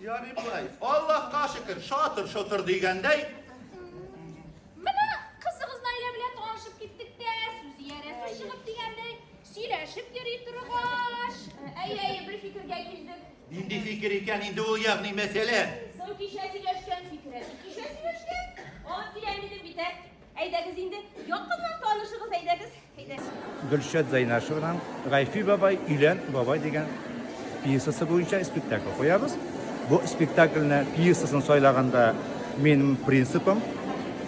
Ярый болай. Аллаһка шөкер, шатыр-шотыр дигәндәй. Менә кызыгыз Наилә белән танышып киттек тә, сүз иярәсе чыгып дигәндәй, сөйләшеп йөри торгач. Әйе, әйе, бер фикергә килдек. Нинди фикер икән инде ул ягъни мәсьәлә? Соң кичә сөйләшкән фикере. Кичә сөйләшкән? Аны тирән дидем бит, ә? Әйдәгез инде, якыннан танышыгыз, әйдәгез, әйдәгез. Гөлшат Зайнашеваның Гайфи бабай, өйлән бабай дигән пьесасы буенча спектакль куябыз. Бу спектакльне пьесасын сайлаганда минем принципым,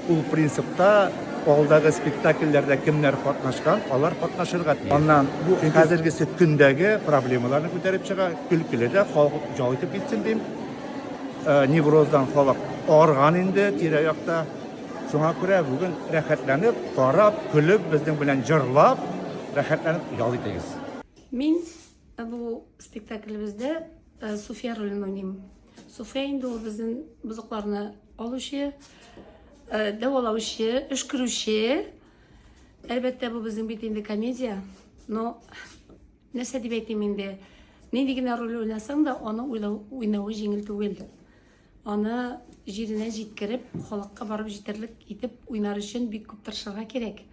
ул принципта алдагы спектакльләрдә кемнәр катнашкан, алар катнашырга тиеш. Аннан бу хәзергесе көндәге проблемаларны күтәреп чыга, көлкеле дә халык җал итеп китсен дим. Э, невроздан халык арган инде тирә-якта. Шуңа күрә бүген рәхәтләнеп, карап, көлеп, безнең белән җырлап, рәхәтләнеп ял итегез. Мин э, бу спектаклебездә э, Суфия ролен уйныйм. Суфия инде ул безнең бозыкларны алучы, э, дәвалаучы, өшкерүче. Әлбәттә, бу безнең бит инде комедия. Но нәрсә дип әйтим инде, нинди генә роль уйнасаң да, аны уйлау, уйнавы җиңел түгел. Аны җиренә җиткереп, халыкка барып җитәрлек итеп уйнар өчен бик күп тырышырга кирәк.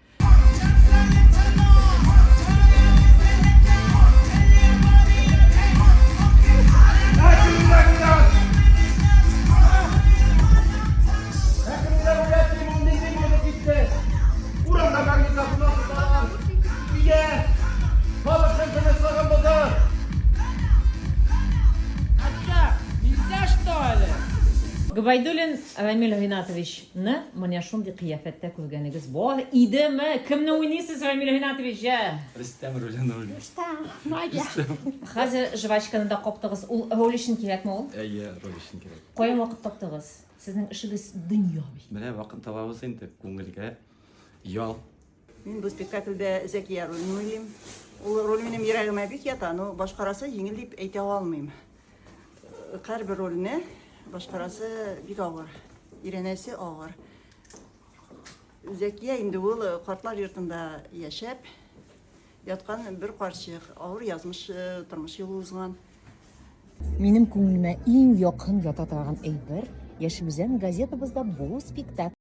Нигә? Халыкның тынычлыгын бозар! Хәтта миндә что әле? Гобәйдуллин Рамил Ринатович ны менә шундый кыяфәттә күргәнегез бар иде ме? Кемне уйныйсыз, Рамил Ринатович җа? Рөстәм ролен уйныйм. Рөстәм, Надя. Хәзер жвачканы да каптыгыз, ул роль өчен кирәкме ул? Әйе, роль өчен кирәк. Каян вакыт таптыгыз? Сезнең эшегез дөнья бит. Менә вакыт табабыз инде, күңелгә ял. Мин бу спектакльдә Зәкия ролен уйлыйм. Ул роль минем йөрәгемә бик ята, но башкарасы җиңел дип әйтә алмыйм. Һәрбер рольне башкарасы бик авыр, өйрәнәсе авыр. Зәкия инде ул картлар йортында яшәп яткан бер карчык, авыр язмыш э, тормыш юлы узган. Минем күңелемә иң якын ята торган әйбер яшелүзән газетабызда бу спектакль.